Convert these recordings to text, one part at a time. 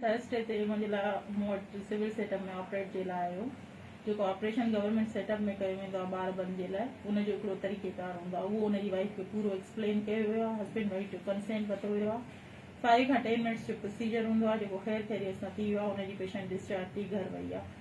Thursday تي منهنجي لاء مون وٽ سول سيٽ اپ ۾ آپريٽ جي لاء آيو جيڪو آپريشن گورنمينٽ سيٽ اپ ۾ ڪيو ويندو آهي ٻار بند جي لاء ان جو هڪڙو طريقي ڪار هوندو آهي اهو ان جي وائيف کي پورو ايڪسپلين ڪيو ويو آهي هسبينڊ وائيف جو ڪنسينٽ ورتو ويو آهي فائيو کان ٽين منٽس جو پروسيجر هوندو آهي جيڪو خير خيريت سان ٿي ويو آهي ان جي پيشنٽ ڊسچارج ٿي گهر وئي آهي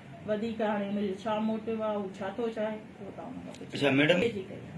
وڌيڪ هاڻي ان جو ڇا موٽو آهي هو ڇا ٿو چاهي اهو توهان هن کان پڇو. اچا ميڊم جي ڪئي آهي.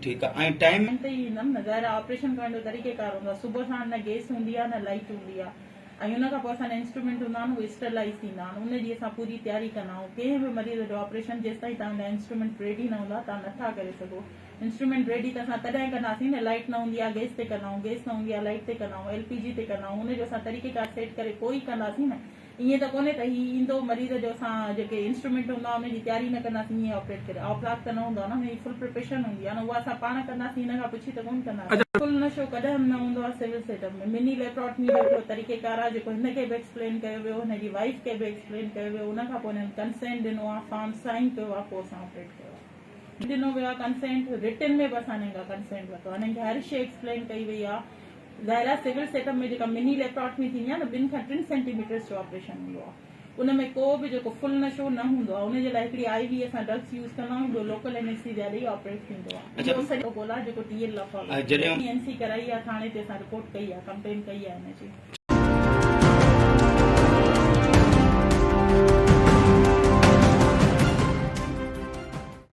ٺيڪ آهي ۽ ٽائيم. ٽائيم ته ئي ايندم نه ظاهر آهي آپريشن ڪرڻ جو طريقي ڪار هوندو آهي صبح ساڻ نه گيس هوندي آهي نه لائيٽ هوندي آهي ۽ ان کان پوء اسان جا انسٽرومينٽ هوندا آهن اهي اسٽرلائيز ٿيندا آهن ان جي اسان پوري تياري ڪندا آهيون ڪنهن به مريض جو آپريشن جيستائين توهان جا انسٽرومينٽ ريڊي نه هوندا توهان نٿا ڪري سگهو انسٽرومينٽ ريڊي ته اسان تڏهن ڪنداسين نه لائيٽ نه هوندي آهي گيس تي ڪندا آهيون گيس نه هوندي آهي لائيٽ تي ڪندا آهيون ايل پي جي تي ڪندا آهيون ان جو اسان طريقي ڪار سيٽ ڪري پوء ئي ڪنداسين نه ائين ته ڪونهي ته هي ايندو مريض جو اسان جيڪي انسٽرومينٽ هوندا ان جي تياري نه ڪنداسين ائين آپريٽ ڪري آپلاڪ ته نه هوندو آهي نه هن جي فل پريپريشن هوندي آهي نه اها اسان پاڻ ڪنداسين هن کان پڇي ته ڪونه ڪنداسين فل نشو ڪڏهن به نه هوندو آهي civil set up ۾ mini laparotomy جو هڪڙو طريقي ڪار آهي جيڪو هن کي به ايڪسپلين ڪيو ويو هن جي وائيف کي به ايڪسپلين ڪيو ويو ان کان پوء هنن ڪنسينٽ ڏنو آهي فارم سائين ڪيو آهي پوء اسان آپريٽ ڪيو آهي ڏنو ويو آهي ڪنسينٽ رٽن ۾ به اسان هنن کان ڪنسينٽ ورتو آهي هنن کي هر شي ايڪسپلين ڪئي وئي آهي. ظاهر آهي سول سيٽ اپ ۾ جيڪا مني ليپراٽمي ٿيندي آهي نه ٻن کان ٽن سينٽي ميٽرس جو آپريشن هوندو آهي ان ۾ ڪو به جيڪو فل نشو نه هوندو آهي ان جي لاء هڪڙي آئي وي اسان ڊرگس يوز ڪندا آهيون ٻيو لوڪل انيسٿيزيا ڏئي آپريٽ ٿيندو آهي اهو سڄو گول آهي جيڪو ٽي ايل لا فالو ڪندو آهي اين سي ڪرائي آهي ٿاڻي تي اسان رپورٽ ڪئي آهي ڪمپلين ڪئي آهي ان جي